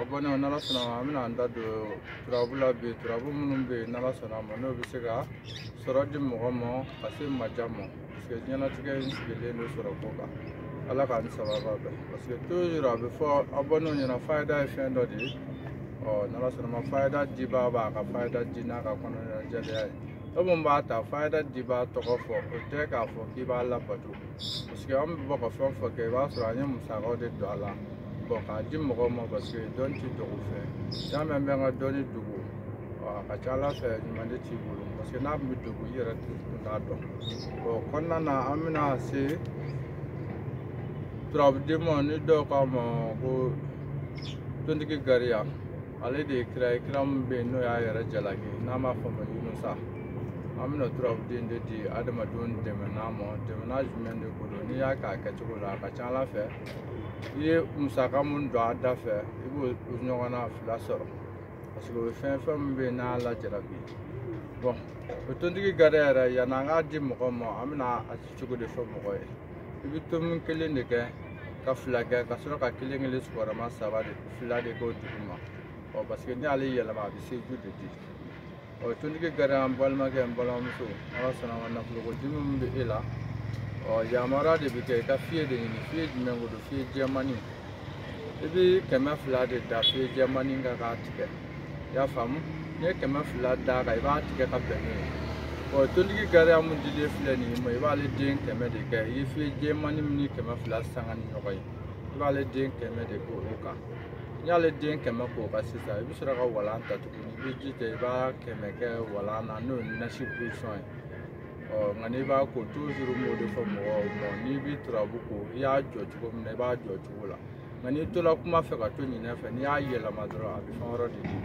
abonnéw n'ala sɔnna an bɛna an da don turabu la bi turabu minnu bɛ yen n'ala sɔnna a ma n'o bɛ se ka sɔrɔ di mɔgɔ ma ka se maja ma parce que diɲɛnatigɛ in sigilen don sɔrɔ ko kan ala k'an sababa bɛɛ parce que toujours a bɛ fɔ abonnéw ɲɛna fayida ye fɛn dɔ de ye ɔ n'ala sɔnna ma fayida dibaa b'a ka fayida di n'a ka kɔnɔna jɛlenya ye e mun b'a ta fayida dibaa tɔgɔ fɔ o tɛ k'a fɔ k'i b'a labato paseke an bɛ bɔ ka fɛn fɛn kɛ i b'a sɔrɔ an ye musakaw de don a la bɔn k'a di mɔgɔw ma paseke dɔnni tɛ dogo fɛn y'a mɛn n bɛ n ka dɔnni dogo a ka ca a la fɛn ɲuman de t'i bolo paseke n'a tun bɛ dogo i yɛrɛ tun t'a dɔn o kɔnɔna na an bɛna se turabuden ma ni dɔw k'a ma ko tontigi gariya ale de ye kira ye kira min bɛ yen n'o y'a yɛrɛ jalaki n'an b'a fɔ a ma yunusa an bɛna turabuden de di adamadenw dɛmɛnan ma dɛmɛnan jumɛn de ko don n'i y'a k'a kɛcogo la a ka ca ala fɛ i ye musaka mun don a da fɛ i b'o ɲɔgɔnna fila sɔrɔ parce que o ye fɛn fɛn min bɛ yen n'a lajarabi bɔn o tontigi gariya yɛrɛ yanni an k'a di mɔgɔ ma an bɛna a ci cogo de fɔ mɔgɔ ye i bɛ tomi kelen de kɛ ka fila kɛ ka sɔrɔ ka kelen kelen sigiyɔrɔma saba de fila de k'o dugu ma ɔ parce que n'ale yɛlɛma a bɛ seju de di ɔ tontigi gariya an balimakɛ n balimamuso ala sɔnna an ka nafoloko dimi min bɛ e la ɔ yamaruya de bɛ kɛ i ka fiye de ɲini fiye jumɛn ko don fiye jɛmani i bɛ kɛmɛ fila de da fiye jɛmani kan k'a tigɛ i y'a faamu n'i ye kɛmɛ fila d'a kan i b'a tigɛ ka bɛn n'o ye ɔ tontigi gariya mun dilen filɛ nin ye ma i b'ale den kɛmɛ de kɛ i ye fiye jɛmani min ni kɛmɛ fila sanga ni ɲɔgɔn ye i b'ale den kɛmɛ de k'o kan n'i y'ale den kɛmɛ k'o kan sisan i bɛ sɔrɔ ka walan ta tuguni i bɛ ji ta i b'a kɛmɛ kɛ walan na n'o ye nasi posɔn ye ɔ nka n'i b'a ko toujours n b'o de fɔ mɔgɔw ma n'i bɛ turabu ko i y'a jɔ cogo min na i b'a jɔ cogo la nka n'i tola kuma fɛ ka to ɲinɛ fɛ n'i y'a yɛlɛma dɔrɔn a bɛ fɛn wɛrɛ de di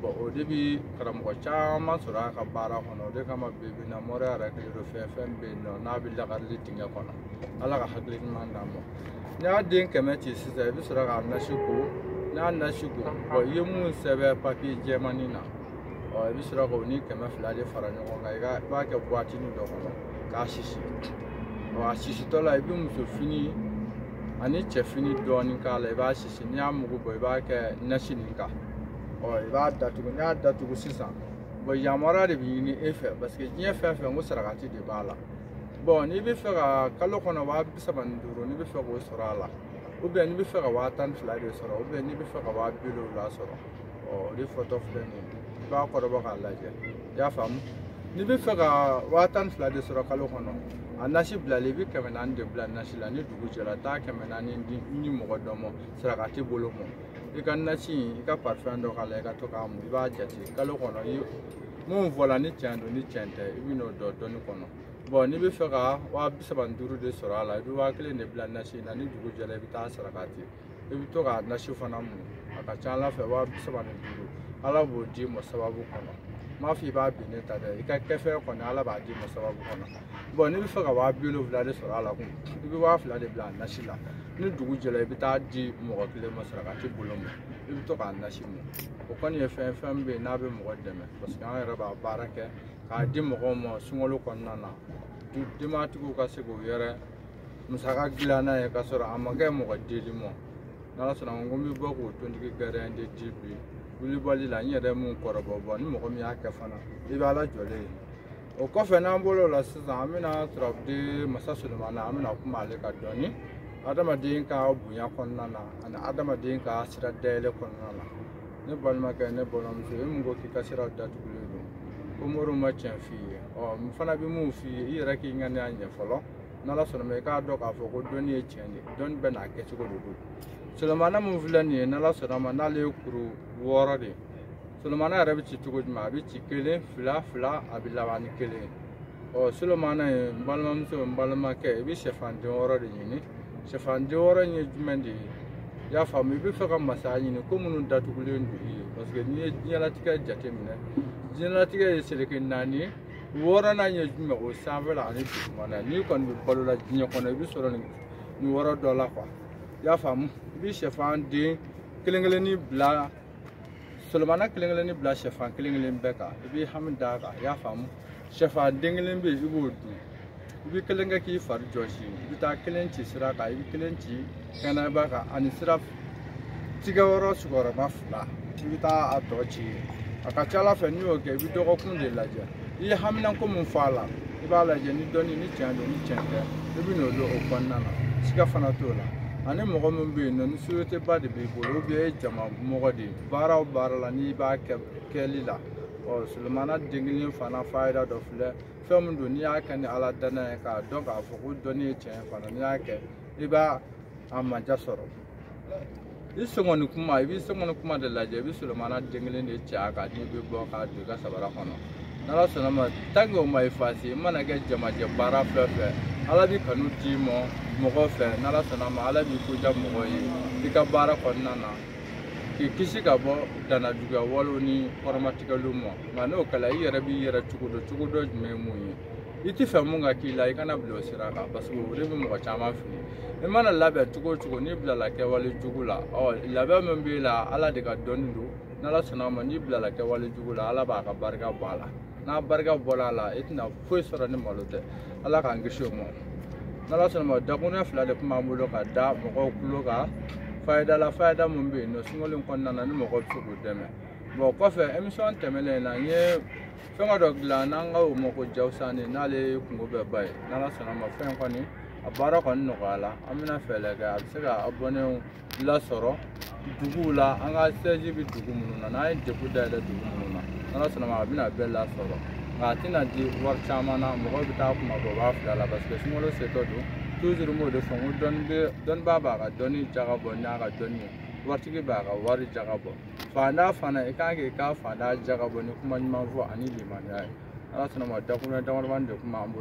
bɔn o de bi karamɔgɔ caman sɔrɔ a ka baara kɔnɔ o de kama bibi in na moriya yɛrɛ kɛlen don fɛn fɛn bɛ yen nɔ n'a bɛ lakarili dingɛ kɔnɔ ala ka hakili ɲuman d'an ma n'i y'a den kɛmɛ ci sisan i bɛ sɔrɔ k'a nasi ko n'i y'a nasi ko bɔn i ye mun sɛbɛn papiye jɛmani na ɔ i bɛ sɔrɔ k'o ni kɛmɛ fila de fara ɲɔgɔn kan i ka i b'a kɛ buwatini dɔ kɔnɔ k'a sisi ɔ a sisitɔ la i bɛ muso fini ani cɛ fini dɔɔni k'a la i b'a sisi n'i y'a mugu bɔ i b'a kɛ nasi nin kan ɔ i b'a datugu n'i y'a datugu sisan bɔn yamaruya de bɛ ɲini e fɛ parce que diɲɛ fɛn fɛn ko sarakati de b'a la bɔn n'i bɛ fɛ ka kalo kɔnɔ waa bi saba ni duuru n'i bɛ fɛ k'o sɔrɔ a la ou bien n'i bɛ fɛ ka waa tan ni fila de sɔrɔ ou bien n'i bɛ fɛ ka waa bi wolonwula sɔrɔ ɔ o de fɔtɔ filɛ nin ye i b'a kɔrɔbɔ k'a lajɛ i y'a faamu n'i bɛ fɛ ka waa tan ni fila de sɔrɔ kalo kɔnɔ a nasi bilalen i bɛ kɛmɛ naani de bila nasi la ni dugu jɛra taa kɛmɛ naani di mɔgɔ dɔ ma sarakati bolo ma i ka nasi in i ka parifɛn dɔ k'a la i ka to k'a mun i b'a jate kalo kɔnɔ i mun fɔla ni tiɲɛ don ni tiɲɛ tɛ i bɛ n'o dɔn dɔɔni kɔnɔ bɔn n'i bɛ fɛ ka waa bi saba ni duuru de sɔrɔ a la i bɛ waa kelen de bila nasi in na ni dugu jɛra i bɛ taa saraka di i bɛ to ka nasi fana mun a ka ca ala fɛ waa bi saba ni duuru ala b'o d'i ma sababu kɔnɔ n m'a fɔ i b'a binnen ta dɛ i ka kɛfɛn kɔnɔ ala b'a d'i ma sababu kɔnɔ bɔn n'i bɛ fɛ ka waa bi wolonwula de sɔrɔ a la quoi i bɛ waa fila de bila nasi la ni dugu jɛra i bɛ taa a di mɔgɔ kelen ma sarakati bolo ma i bɛ to k'a nasi mun o kɔni ye fɛn fɛn bɛ yen n'a bɛ mɔgɔ dɛmɛ parce que an yɛrɛ b'a baara kɛ k'a di mɔgɔw ma sunkalo kɔnɔna na denbatigiw ka se k'u yɛrɛ musaka dilan n'a ye k'a sɔrɔ a ma kɛ mɔgɔ deli ma n'ala sɔnna n ko n bɛ bɔ k'o tontigi gɛrɛn de di bi wulibali la n yɛrɛ mun kɔrɔbɔ bɔ ni mɔgɔ min y'a kɛ fana i bɛ ala jɔlen ye o kɔfɛ n'an bolo la sisan an bɛna turabuden masa solomana an bɛna kuma ale kan dɔɔni adamaden ka bonya kɔnɔna na ani adamaden ka sira dayɛlɛ kɔnɔna na ne balimakɛ ne balimamuso e mun ko k'i ka siraw datugulen don ko moriw ma tiɲɛ f'i ye ɔ n fana bɛ mun f'i ye i yɛrɛ k'i ŋaniya ɲɛ fɔlɔ n'ala sɔnna ma i k'a dɔn k'a fɔ ko dɔnni ye tiɲɛ de dɔnni bɛ n'a kɛcogo de don solomana mun filɛ nin ye n'ala sɔnna ma n'ale ye kuru wɔɔrɔ de ye solomana yɛrɛ bɛ ci cogo jumɛn a bɛ ci kelen fila fila a bɛ laban ni kelen ye ɔ solomana ye n balimamuso n balimakɛ i bɛ sɛfan den wɔɔrɔ de ɲini sɛfan den wɔɔrɔ in ye jumɛn de ye i y'a faamu i bɛ fɛ ka masaya ɲini ko minnu datugulen don i ye parce que n'i ye diɲɛlatigɛ jateminɛ diɲɛlatigɛ ye seleke naani ye wɔɔrɔnan ye jumɛn o sanfɛla ani dugumana n'i kɔni bɛ balo la diɲɛ kɔnɔ i bɛ sɔrɔ nin nin wɔɔrɔ dɔ la quoi i y'a faamu i bɛ sɛfan den kelen kelennin bila solomana kelen kelennin bila sɛfan kelen kelen bɛɛ kan i b'i hami d'a kan i y'a faamu sɛfan den kelen bɛ yen i b'o dun i bɛ kelen kɛ k'i fari jɔsi i bɛ taa kelen ci sira kan i bɛ kelen ci kɛnɛba kan ani sira tigɛ yɔrɔ sigiyɔrɔma fila i bɛ taa a tɔ ci a ka ca ala fɛ n'i y'o kɛ i bɛ dɔgɔkun de lajɛ i ye haminanko min fɔ a la i b'a lajɛ ni dɔnni ni tiɲɛ don ni tiɲɛ tɛ i bɛ n'o dɔn o kɔnɔna na siga fana t'o la ani mɔgɔ min bɛ yen nɔ ni société ba de b'i bolo ou bien e ye jama mɔgɔ de ye baara o baara la n'i b'a kɛ kɛli la ɔ sulemana den kelen fana fayida dɔ filɛ fɛn min don n'i y'a kɛ ni ala dannaya ye k'a dɔn k'a fɔ ko dɔnni ye tiɲɛ fana n'i y'a kɛ i b'a a manja sɔrɔ i senkɔni kunba i b'i senkɔni kunba de lajɛ i bɛ solomana den kelen de cɛ a kan n'i bɛ bɔ k'a don i ka sabara kɔnɔ n'ala sɔnna ma tant que o ma effacé i mana kɛ jamajɛ baara fɛn fɛn ala b'i kanu d'i ma mɔgɔ fɛ n'ala sɔnna ma ala b'i ko diya mɔgɔ ye i ka baara kɔnɔna na k'i kisi ka bɔ danajuguya walew ni kɔrɔmatigɛliw ma nka n'o kɛla i yɛrɛ b'i yɛrɛ cogo dɔ cogo dɔ jumɛn ye mun ye i t'a fɛ min ka k'i la i kana bila o sira kan parce que o de bɛ mɔgɔ caman fili i mana labɛn cogo o cogo n'i bilala kɛwale jugu la ɔ labɛn min b'i la ala de ka dɔnni don n'ala sɔnna a ma n'i bilala kɛwale jugu la ala b'a ka barika bɔ a la n'a barika bɔra a la i tɛna foyi sɔrɔ ni malo tɛ ala k'an kisi o ma n'ala sɔnna ma dakuruɲɛ fila de tun b'an bolo ka da mɔgɔw tulo kan fayidala fayida min bɛ yen nɔ sunkalo in kɔnɔna na ni mɔgɔ bɛ se k'u dɛmɛ bon kɔfɛ émission tɛmɛnen in na n ye fɛnkɛ dɔ dilan n'an ka o ma ko jawusani n'ale kunko bɛɛ ba ye n'ala sɔnna ma fɛn kɔni a baara kɔni nɔgɔyala an bɛna fɛɛrɛ kɛ a bɛ se ka abɔnɛw lasɔrɔ duguw la an ka siège bɛ dugu minnu na n'an ye dépôt dayɛlɛ dugu minnu na n'ala sɔnna ma a bɛna bɛɛ lasɔrɔ nka a tɛna di wari caman na mɔgɔw bɛ taa kuma bɔ b'a fila la parce que sunkalo setɔ don toujours n b'o de fɔ n ko dɔnni bɛ dɔnnibaa b'a ka dɔnni jaga bɔ n'a ka dɔnni ye waritigi b'a ka wari jaga bɔ faantan fana i kan k'i ka faantan jaga bɔ ni kuma ɲuman fɔ ani limaniya ye ala sɔnna ma dakuruɲɛ damadamani de tun b'an bolo